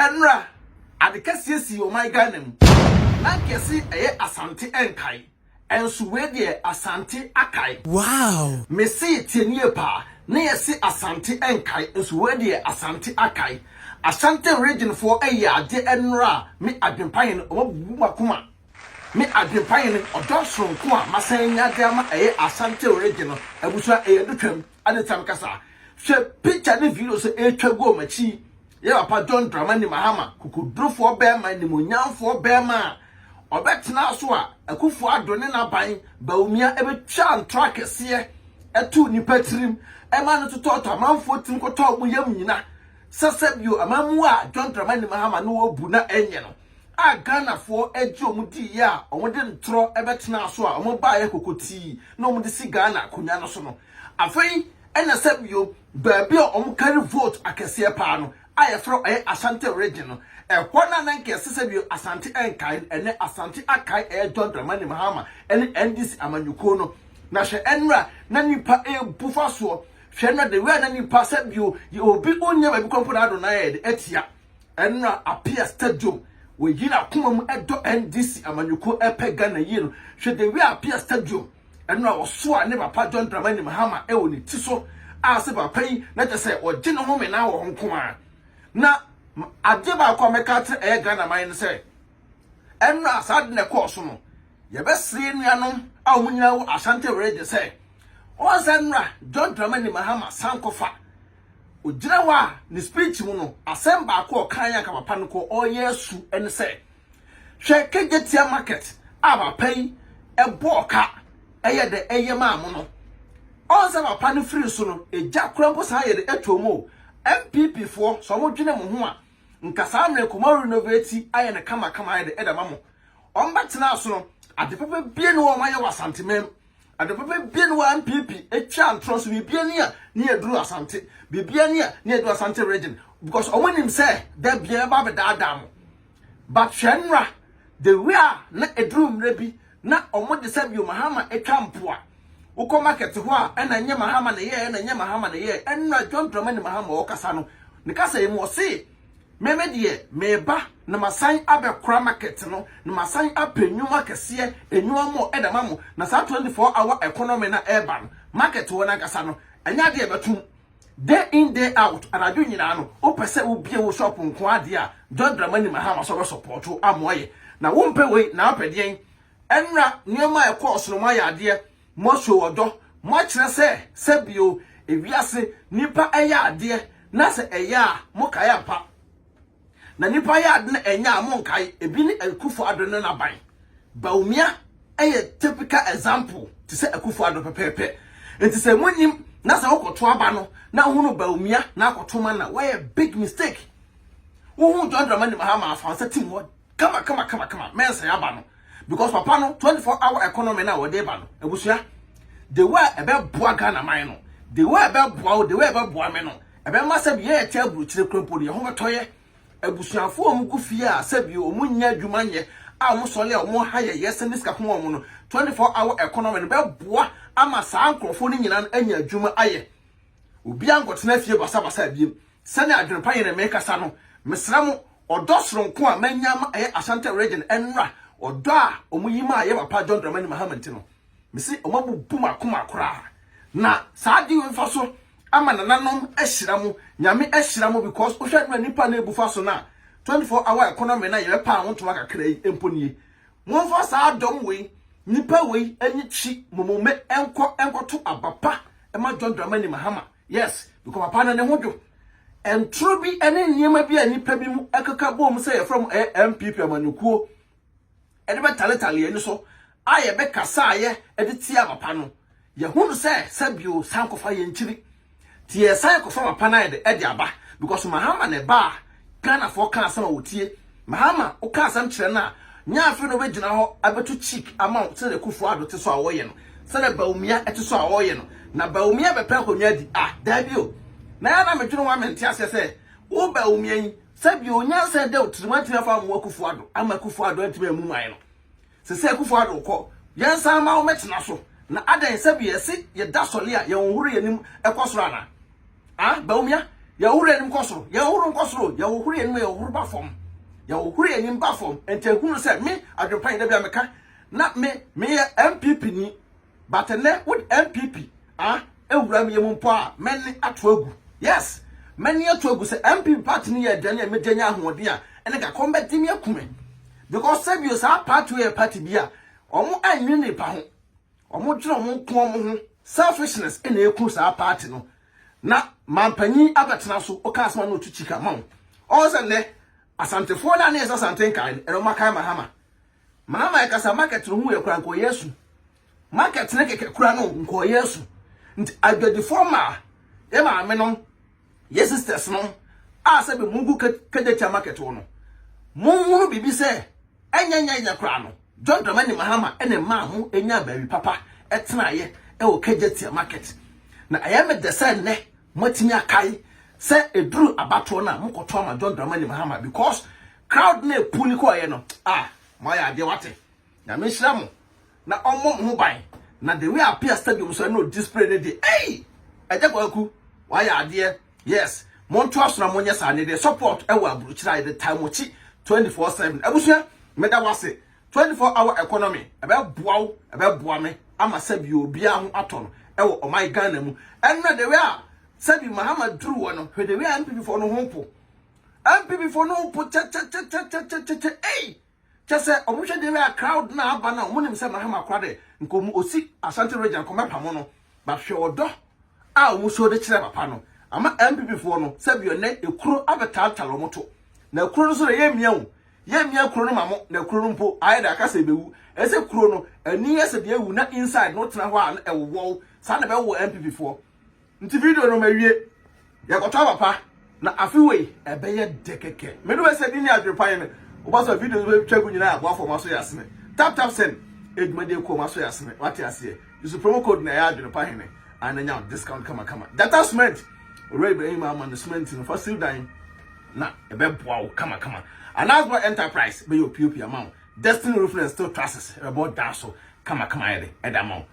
Ɛnora, ade kɛseɛ sii ɔman Ghana mu. Na anka yɛse ɛyɛ Asante ɛnkae. Ɛnso wei deɛ Asante akae. Wow! Mese tie no yie paa. Na yɛse Asante ɛnkae. Nso wei deɛ Asante akae. Ashanten region foɔ ɛyɛ adeɛ ɛnora a me Adwempa Hene ɔmo abubu mo akoma. Me Adwempa Hene ɔdɔ soronko a masan anya de ama ɛyɛ Ashanten region no abusua ɛyɛ adutwam. Adetan kasa. Hwɛ picture ne videos a ɛretwa gu wɔn akyi. Yɛ papa John Dramani Mahama, kokodurofoɔ barima, animuonyamfoɔ barima a ɔbɛtenaa so a Akufo Addo ne n'aban, Bawumia, bɛtwaa ntorɔ akɛseɛ too nnipa tirim ma no totɔɔtɔ amanfoɔ tirim kɔtɔɔ wɔn yam nyina. Sɛ sɛ bio, amammuo a John Dramani Mahama ne wɔbu na ɛnyɛ no. a Ghanafoɔ gye wɔn diiɛ a wɔde ntorɔ bɛtenaa so a wɔbaeɛ kokotii na wɔde si Ghana akonnwa no so no, afei na sɛ bio baabi a wɔkari vote akɛseɛ pa ara no a yɛfrɛ ɛyɛ Ashanti Region no, ɛhɔ no a na nka ɛsɛ sɛ bio Asante nkae no, ɛnnɛ Asante akae ɛyɛ John Dramani Mahama ne NDC amanyɔkuo no. Na hwɛ ɛnora a na nnipa rebu fa soɔ, hwɛ ɛnora the way a na nnipa sɛ bio yɛ obi ɔnnya baabi kɔ mpo na Adonai ayɛ de atia. Ɛnora Appiah Stadium wɔ yin akoma mu ɛdɔ NDC amanyɔkuo ɛpɛ Ghana yie no hwɛ the way Appiah Stadium ɛnora ɔsoa ne papa John Dramani Mahama ɛwɔ ne ti so a sɛ papa yi na kyɛ sɛ ɔgye ne ho menaa wɔ hɔ nkomaa na adeɛ baako a mɛka akyerɛ ɛyɛ Ghana man no sɛ ɛnora saa ade na ɛkɔɔ so no yɛbɛsere nuanom a wɔn nyinaa wɔ Ashanti region sɛ wɔn sɛ ɛnora John Dramani Mahama san kɔfa Ogyina hɔ a, ne speech mu no, asɛm baako a ɔkae anka papa no kɔ ɔreyɛ asu ne sɛ, hwɛ Kejetia market a papa yi bɔɔ ka ɛyɛ dɛ ɛyɛ maa mo no. Ɔn sɛ papa no firi so no, egya kora mpo saa yɛ dɛ ɛtɔɔ mu o. NPP foɔ, sɛ wɔn dwene mo ho a, nka saa mmerɛ nka wɔn a renovate ayɛ no kama kama ayɛ dɛ ɛde ama mo. Wɔn bɛtena so no, ade papa bie ne wɔn ayɛ wɔ Asanteman mu. Ade papa bia ne wɔ NPP etwa ntorɔ so bibia ni a ne yɛ duru Asante bibia ni a ne yɛ duru Asante region because ɔmo nim sɛ da bia yɛbɛ abɛ daadaa mo but hwɛ nra the way a na eduru mmerɛ bi na ɔmo de sɛbio Mahama etwa mpoa wokɔ market hɔ a ɛna nyɛ Mahama na ɛyɛɛ ɛna nyɛ Mahama na ɛyɛɛ ɛnra John Dramani Mahama ɔkasa no ne kasa yi mu ɔsee Me me deɛ meba na masan abɛkora market no na masan apɛ nnwuma kɛseɛ, nnwuma mɔ ɛde ama mo na saa 24 hour economy no a ɛreba no market hɔ no ankasa no ɛnyɛ adeɛ a ɛbɛtom day in day out anadwo nyinaa no wopɛ sɛ wobie wo shop nko adeɛ a John Dramani Mahama sɛ ɔbɛsɔpɔɔto ama ɔyɛ na wompɛ wei na wopɛ deɛn ɛnra nneɛma a ɛkɔɔ so no mo ayɛ adeɛ Moahyɛ ɔdɔ, moakyerɛ sɛ sɛ bio ewiase nnipa yɛ adeɛ na sɛ ɛyɛ a mokae ampa. Na nnipa yɛ ade na ɛnyɛ a monkae, ebi ne Akufo Addo ne n'aban. Bawumia yɛ typical example te sɛ Akufo Addo pɛpɛɛpɛ. Nti sɛ monnim na sɛ wokɔto aba no na wohunu Bawumia na akɔto ma no a, woayɛ big mistake. Wohuu John Dramani Mahama a, fa wo nsa tim hɔ kama kama kama kama mɛnsɛn aba no because papa no 24 hour economy na wɔde ba no abusua the way ɛbɛboa ghana man no the way ɛbɛboa wo the way ɛbɛboa me no ɛbɛma sɛ bi yɛyɛ te aburokyire kura mpo no yɛn ho bɛtɔyɛ abusuafo a wɔgu fie a sɛ bi wɔn nyɛ adwuma nyɛ a wɔn sɔle a wɔn ha yɛ yɛ sɛ ne sika kɔn wɔn no 24 hour economy no bɛboa ama saa nkurɔfoɔ no nyinaa anya adwuma ayɛ obiara nkɔtena fie basabasa abiem Sɛnea adwene pa yɛ na merekasa no, mesrɛ mo, ɔdɔ soronko a manya ama ɛyɛ Ashanti Region nnora ɔdɔ a wɔyi maa yɛn papa John Dramani Mahama nti no. Mese wɔabubu m'akoma koraa. Na saa ade wei mfa so ama nananom ahyira mo. Nyame ahyira mo because wohwɛ mmerɛ nnipa no abufa so no a, 24 hour economy no a yɛbɛpaa ho ntoma kakra yi mpo nie. Momfa saa dɔm wei, nnipa wei ani kyi momome nkɔ nkɔto aba pa ma John Dramani Mahama. Yes, because papa no ne ho dwo. Ntoro bi ne nneɛma bi a nnipa bi mu ɛkeka bom sɛ yɛfrɛ mo ɛyɛ MPP amanyɔkuo ɛde bɛtaletale ani so a yɛbɛkasa a yɛ ɛde tia papa no. Yɛhunu sɛ sɛbio san kɔfa yɛn kyiri. Ti yɛsan kɔfa papa no ayɛ de ɛde aba because Mahama na ɛba a Ghanafoɔ ka asɛm a wɔtie. Mahama wo ka asɛm kyerɛ no a, nyɛ afei na ɔbɛgyina hɔ abɛtu cheek ama wo sɛdeɛ Kufuor Addo te so a ɔreyɛ no, sɛdeɛ Bawumia te so a ɔreyɛ no. Na Bawumia bɛpɛ akonnwa adi? Ah, daabi o. Na yɛ a na medwene ho a mente aseɛ sɛ wo Bawumia yi, sɛdeɛ onyansa da wo tirim antumi amfa ammoa Kufuor Addo, amma Kufuor Addo antumi ammu man no. Sɛ sɛ Akufo Addo kɔ, yɛn san ma wo mɛtena so, na adɛn sɛ bi yɛse yɛ da sɔle a yɛn hohoro yɛn anim kɔ soro anaa? Aah Bawumia, yɛn hohoro yɛn anim kɔ soro, yɛn hohoro nkɔ soro o, yɛn hohoro yɛn anim a yɛn hohoro ba fam, yɛn hohoro yɛn anim ba fam, nti ahunu sɛ me, Adwempa yi da bi a meka na me, meyɛ NPP ni, but ɛnɛ wode npp ah ewura mi mu mpo a mɛne ato agu yes mɛne ato agu sɛ npp party no yɛ aduane a megya nya ahoɔden a ɛne ka kɔm bɛgye me akume because sɛbio saa party yɛ party bi a wɔn anwene nipa ho wɔn dwene wɔn nko wɔn ho selfishness ɛna eku saa party no na mampanyin abɛtena so ɔka asoma na otu kyika ma wɔn ɔwɔ sɛ nnɛ asantefoɔ no a ne yɛ sɛ asante nkae no ɛna wɔn akae mahama Maa maa ɛkasa market no ho yɛ kura nkɔyɛ asu market ne kɛkɛ kura no nkɔyɛ asu nti adwadifoɔ maa yɛ maame nom yɛ sisters nom a sɛ bi mo gu kagyatia market wo no mo nhunu biribi sɛ ɛnyɛ nyɛ nyɛ kura no John Dramani Mahama ɛne maa ho ɛnya baabi papa ɛtena yɛ ɛwɔ kagyatia market na ɛyɛ me dɛ sɛ nnɛ mo atumi akae sɛ ɛduru abatoɔ no a mo kɔtɔ ama John Dramani Mahama because Crowd no a puni kɔeɛ no ah moayɛ adeɛ wate Nyame nhyira mo na ɔmmɔ mo ho ban na the way apia stadium so ɛna ɔdi spray no deɛ ei Agya Kwaku wayɛ adeɛ yes montoa so na monyɛ saa ne deɛ support ɛwɔ aburukyire a yɛde tae mo kyi 24 7 abusua meda wase 24 hour economy ɛbɛboa wo ɛbɛboa me ama sɛbi obiara ho atɔ no ɛwɔ ɔman Ghana mu ɛnna the way a sɛbi Mahama duru hɔ no hwɛ the way a MPP foɔ no ho po NPP fo no po kyɛkyɛkyɛkyɛkyɛkyɛkyɛ ei kyɛ sɛ ɔmo hwɛ deɛ a crowd na aba na ɔmo nim sɛ Mahama kora de nka ɔmo osi Asante region kɔ mɛpa mo no but hwɛ ɔdɔ a ɔmo show de kyerɛ papa no ama NPP foɔ no sɛ bi ɔnɛ ekuro abɛtaltal ɔmo to na ekuro no nso na yɛ mmea o yɛ mmea kuro no ma mo na ekuro no mpo ayɛ de aka sɛ ebewu ɛsɛ kuro no ani yɛ sɛ deɛ ewu na inside no tena hɔ a na ɛwowɔw saa na ɛbɛwɔ NPP foɔ Nti video no mawie. Yɛkɔtɔ aba pa na afe wei ɛbɛyɛ dɛ kɛkɛ. Me de wɛsɛ bi ne adwene pa yɛn. Woba sɛ video no bɛtwa gu nyinaa aboa fam aso yɛ asene. Tap tap send. Edwuma di ɛkɔ mu aso yɛ asene. Wate aseɛ. Use promo code na ɛyɛ adwene pa hene. An na nya discount kama kama. Gyata cement. Owura Ibrahim ama no cement no fa siw dan na ɛbɛboa wo kama kama. Anasba enterprise bɛyɛ opiopi ama wo. Destiny roofing and steel trusses ɛbɛbɔ dan so kama kama ayɛ dɛ ɛde ama wo.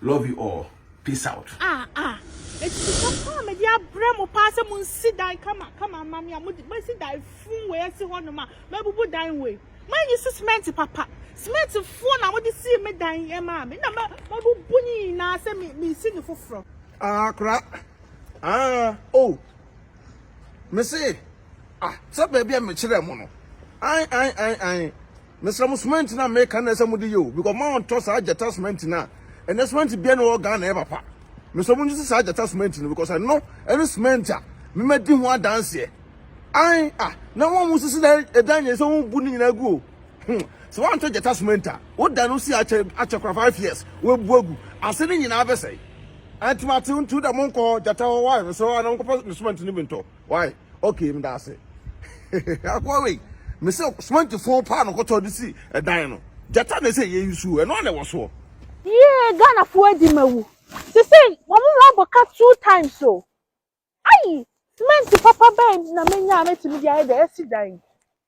Love you all. Peace out. Ah ah. Eti papa a mede abrɛ mo paa sɛ mo nsi dan kama kama ama me a mo mo si dan fun wei asi hɔ nom a mabubu dan wei. Manyi so cement papa. Cement fun na mo de si me dan yɛ maa me. Na ma mabubu ne nyinaa sɛ me me si ne foforɔ. Ah kora. Ah oh. Me se ah sɛ baabi a mekyerɛ mo no. An an an an. Mesrɛ mo cement no a meka no na ɛsɛ mode yɛ o because mo a ɔntɔ saa gyata cement no a ɛnɛ cement biara ni wɔ Ghana ɛyɛ papa. Mesrɛ mo ngyese saa gyata cement no because ɛno ɛne cement a me madi ho adanseɛ. Ae ah na wɔn a wɔn sisi na ɛdan nyɛ sɛ wɔn bu ne nyinaa gu o. Hmm sɛ wɔn antɔ gyata cement a wo dan no si akyɛ akyɛ kora five years wɔn bu agu ase ne nyinaa bɛsɛe. Ɛnti ma te ntu da mo nkɔ gyata hɔ wa mesrɛ wɔn a na wɔn kɔpɛ cement no bi ntɔ. Wai okay meda ase akoa wei me se cement fon paa no kɔtɔ de si ɛdan no gyata na ɛsɛ yɛ yi so ɛno ana ɛwɔ soɔ. Yee Ghana foɔ adi ma wu sesei wɔn ho abɔ ka two times o ayi cement papa bɛn na menya a mɛtumi de ayɛ deɛ yɛsi dan yi.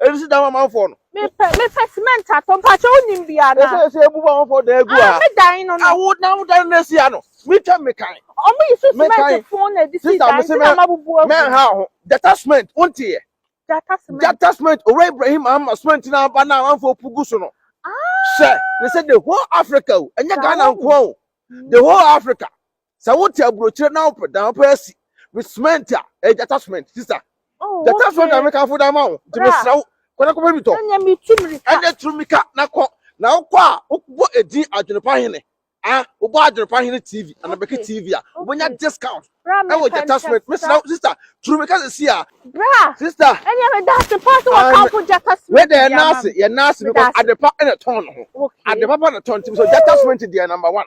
Ebi si dan amanfoɔ no. Mepɛ mepɛ cement atɔ mpakyɛ wonim bi ana. Ɛsɛ ɛsɛ ebu amanfoɔ dan egu ha. Me dan no no. Awo na awo dan no esi ha no. Mi twɛ mi kan. Ɔmo yi so cement fun na ɛde si dan ti na ma bubu agu. Mɛ ha ho jata cement wo nti yɛ. Jata cement. Jata cement owura Ibrahim ama cement na aba na amanfoɔ pu gu so no. Sɛ ne sɛ the whole Africa o ɛnyɛ Ghana nkoa o the whole Africa sɛ wote aburokyire na wopɛ dan wopɛ asi me cement a ɛyɛ gyata cement sista oh, gyata cement na mekamfo da ma wo nti mesrɛ wo kɔda kɔpɛ bi tɔ ɛnɛ turu mika na kɔ na wokɔ a wobɔ edin adwenepa hene a wobɔ adwenepa hene tv anabɛke tv a wobɛnya discount ɛwɔ gyata cement mesrɛ wo sista turu mika sɛ si a sista ɛnɛ meda ase pa sɛ wɔkamfo gyata cement yɛ naase yɛ naase because adepa ɛna tɔn no ho adepa pa na tɔn nti mesɛ gyata cement deɛ number one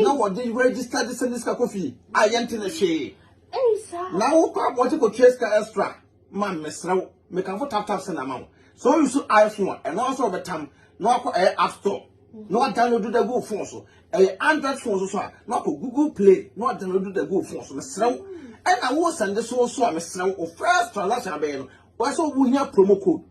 na wɔde register de sɛ ne sika kɔ fie a yɛnte ne hwee na wokɔ abɔgye kɔtua sika extra ma mesrɛ wo mekamfo tap tap sɛ na ma wo so you so iphone ɛno ara sɛ wɔbɛtam na wakɔ ɛyɛ app store na wadownload da gu phone so ɛyɛ android phone so so a na wakɔ google play na wadownload da gu phone so mesrɛ wo ɛna wo sɛnde so so a mesrɛ wo first transaction abɛyɛ no wɔsɛ wohia promo code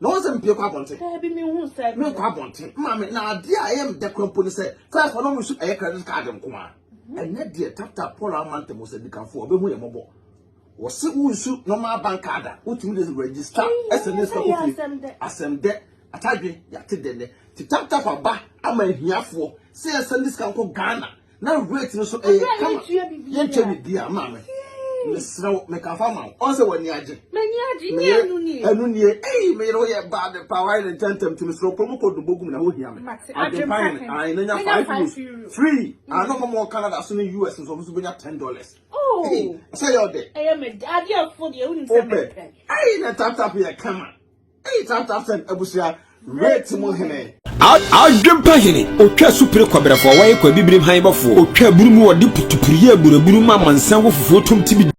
na wɔn sɛ mpie kɔ abɔnten. Daabi mi hu sɛ. Mi nkɔ abɔnten maame na adeɛ a ɛyɛ mi dɛ kura mpo ni sɛ first wɔn mu su ɛyɛ credit card nko a mhm. ɛnɛ deɛ tap tap paul ama ntɛm wɔ sɛ dikanfo ɔbɛ hu yɛ mɔbɔ wɔsi wunsu normal bank card a wotumi de register ɛsɛ ne sika kɔ fie asɛm dɛ atadwe yate dɛ nɛ ti tap tap aba ama ahiafoɔ sɛ yɛsɛ ne sika nkɔ ghana na weight no so ɛyɛ eh, kama yɛntwa biribi a maame mesrɛ wo mekafa ma wo ɔn sɛ w'ani agye meyɛ ɛno nie ei meyere woyɛ bad pa wayɛ ne ntɛntɛm nti mesrɛ wokɔ mu kɔ dobo gum na wohia me adwempa hene ae na nya five euros free ano ma mɔ canada so ne us nso ɔmo so bɛnya ten dollars oh. sɛ yɛ ɔdɛ wopɛ ei na taptap yɛ kama Adwempa hene, otwa supere kɔbrɛfoɔ, wɔyɛ kɔ abibirim han bɔfoɔ, otwa aburu mu, wɔde putupuruyɛ aburaburu ma amansan wɔ fufuo tom tibidi.